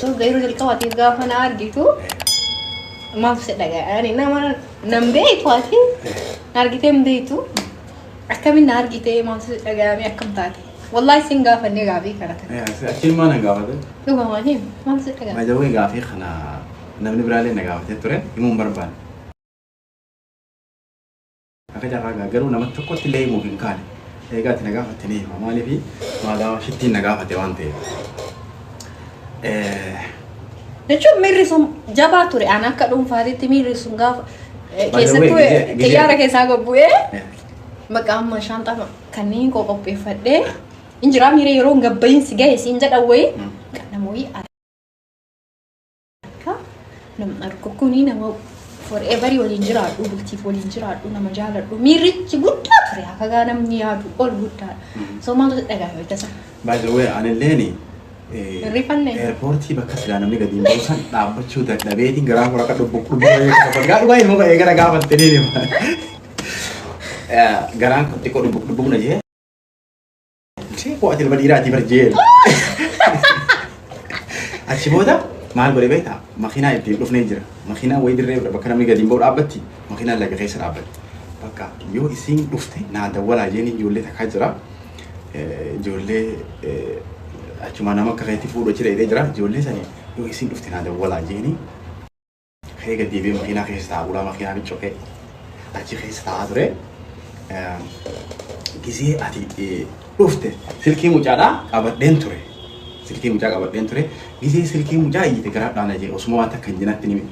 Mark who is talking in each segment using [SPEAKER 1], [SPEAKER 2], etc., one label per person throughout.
[SPEAKER 1] So yeroo jalqabaatiif gaafa na argitu maaf si dhaga'ani nama nan beektu ati na argitee hin beektu akkamiin na argitee maaf si dhaga'ame akkam taate wallaahi sin gaafannee gaafii kana kana Achiin maa na
[SPEAKER 2] gaafate? dhugamaan him
[SPEAKER 1] maaf si dhaga'ame Baay'ee gaafii kana
[SPEAKER 2] namni biraallee na gaafatee ture himuun barbaade. Akka carraa gaa garuu nama tokkotti illee himuuf hin kaane. Egaa itti na gaafatte ni hima. Maaliifi maagaa shittiin na gaafate waan ta'eef. Eh,
[SPEAKER 1] Jechuun miirri sun jabaa ture. Ani akka dhuunfaatitti miirri sun gaafa eh, By the way, keessattuu eh, gizee- gizee- xiyyaara keessaa gad bu'ee eh, maqaa amma shaanxaa kanneen koo qopheeffadhee hin jiraa miira yeroo hin gabba'iinsi ga'e siin jedhan wayii Mm. kan namoonni Akka nam argu kuni nama forever waliin jiraadhu bultiif waliin jiraadhu nama jaaladhu miirrichi guddaa ture hakagaa namni yaadu ol guddaadha. Soo maaltu si dhagahame tasa? By the way, anilleen
[SPEAKER 2] Hirrifanne?
[SPEAKER 1] eerpoortii bakka
[SPEAKER 2] silaa namni gadi hin buusan dhaabbachuu dadhabeetiin garaa koo akka dhubbu dhubbu baay'ee akka faggaa dhugaa ilmoo baay'ee gara gaafatte ni hima. Garaan xiqqoo dhubbu dhubbu na jee. Ishee koo ati ilma dhiiraati bar jeen. Achi booda maal godhe beektaa? Makiinaa ittiin dhufnee jira. Makiinaa wayii dirree bakka namni gadi hin ba'u dhaabbatti. Makiinaan laga keessa dhaabbatti. Bakka yoo isiin dhufte naa dawwalaa jeen ijoollee takkaa jira. Eh, Ijoollee eh, achuma nama akka keetti fuudhu achi dheedee jira. Ijoollee sani yoo isiin dhufte naa dawwalaa jeeni. Ka'ee gad deebi'ee makiinaa keessa taa'aa ulaa makiinaa ni cufee achi keessa taa'aa ture. Gisee ati dhufte silkii mucaadhaa qabadheen ture. Silkii mucaa qabadheen ture. Gisee silkii mucaa iyyite garaadhaa na jee osuma waan takka hin jenatti ni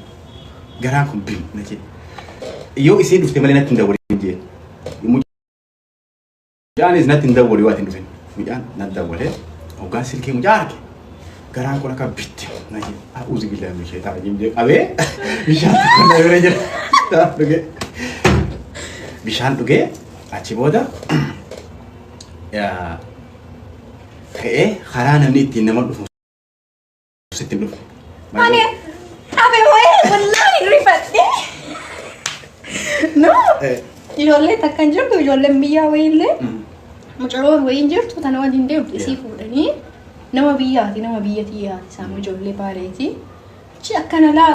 [SPEAKER 2] garaan kun bil na jee. Yoo isiin dhufte malee natti hin dawwalin jee. Mucaanis natti hin dawwale waan hin dhufin. Mucaan natti dawwale hoggaan silkii mucaa arge. Garaan kun akka bitti na jedhe. A'uuzi bilaa meeshee ta'a jimjee qabee bishaan tokko na bira jira. Bishaan dhugee. Bishaan dhugee achi booda yaa, ka'ee karaa namni ittiin nama dhufu Sitti dhufu. Ani
[SPEAKER 1] dhabe wayee wallaahi rifadhe. No. Eh. Ijoollee takka hin jirtu ijoolleen biyyaa wayiillee Mm. mucaroon wayiin jirtu tana waliin deemtu isii Yeah. fuudhanii nama biyyaati nama biyya tiyyaati isaan ijoollee baareeti. Achi akkana laa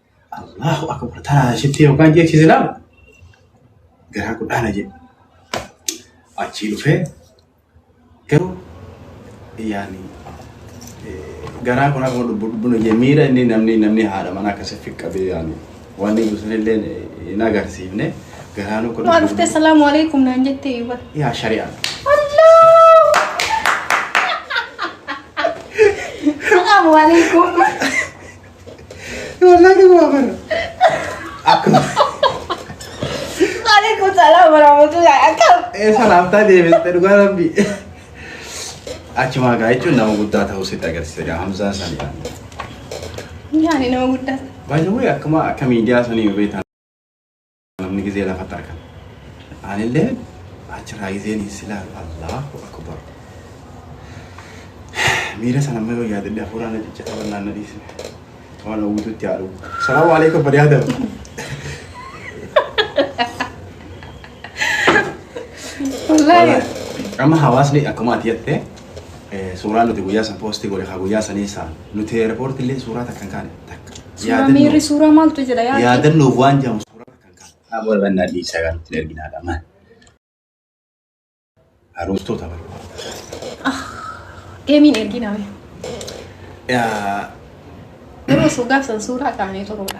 [SPEAKER 2] Allahu akbar taraa ishitti yookaan jechi islaam garaa guddaana jedhu. Achii dhufee garuu yaani garaa kun akkuma lubbu lubbuun hojii miira inni namni namni haadha mana akkasii fiqqabee yaani waan inni ibsan illee hin agarsiifne garaa nu kun. Waan dhuftee salaamu alaikum
[SPEAKER 1] naan jettee iwwa. Yaa shari'aa.
[SPEAKER 2] Salaamu
[SPEAKER 1] alaikum.
[SPEAKER 2] Wallah ni waa bara. Akkuma.
[SPEAKER 1] Waalaikum salaam warahmatullahi akkam. Ee salaamtaa deebiste
[SPEAKER 2] dhugaa rabbi. Achumaa gaa jechuun nama guddaa ta'uu sitti
[SPEAKER 1] agarsiisa
[SPEAKER 2] gaa Hamzaa san yaa. Yaani
[SPEAKER 1] nama
[SPEAKER 2] guddaa. Baay'ee akkuma akka miidiyaa sanii beektan. Namni gizee lafatti argan. Anillee achirraa gizeen silaa Allahu Akbar. Miira sana amma yoo yaadadhe hafuuraa na ciccita bal'aan na dhiisne. Waan hawwitutti haa dhugu. Salaamu alaikum bani Adam. Wallaahi.
[SPEAKER 1] Amma
[SPEAKER 2] hawaasni akkuma ati jettee suuraa nuti guyyaa san poostii godhe haa guyyaa sanii isaa nuti eerpoorti illee suuraa takkan kaane takka. Suuraa miirri
[SPEAKER 1] suuraa maaltu jedha yaadni. Yaadannoof waan jedhamu
[SPEAKER 2] suuraa takkan kaane. Haa booda bannaa dhiisaa gaa nuti erginaa dha maal. Harooftoota bara.
[SPEAKER 1] Deemiin ergina mee. Garuu osoo gaafsan suuraa kaanee turuudha.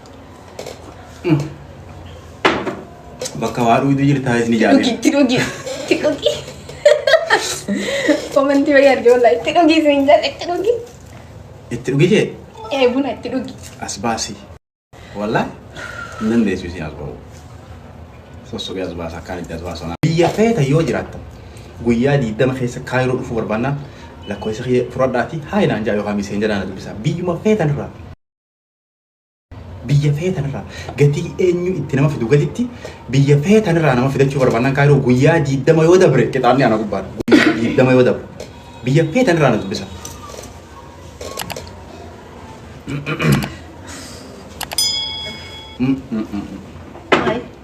[SPEAKER 2] Bakka waa dhugdu jirtaa isin Dhugi ijaaree. itti dhugi itti dhugi.
[SPEAKER 1] Komantii wayii arge wallaahi itti dhugi isin jala itti dhugi. Itti dhugi
[SPEAKER 2] jee Ee buna itti dhugi.
[SPEAKER 1] as baasi.
[SPEAKER 2] Wallah hin dandeessu isin as ba'u. Sossobee as baasa akkaan itti as baasu. Biyya feeta yoo jiraatta guyyaa diidama keessa kaayiroo dhufuu barbaannaan lakkoofsa kiyya fudhadhaati haa inaan jaa yookaan miseen jedhaan dubbisa. Biyyuma feetan irraa biyya feetanirraa gatii eenyu itti nama fidu gaditti biyya feetanirraa nama fidachuu barbaannan kaayiroo guyyaa diiddama yoo dabre qixaanni ana gubbaadha guyyaa diiddama yoo dabre biyya feetanirraa na dubbisa.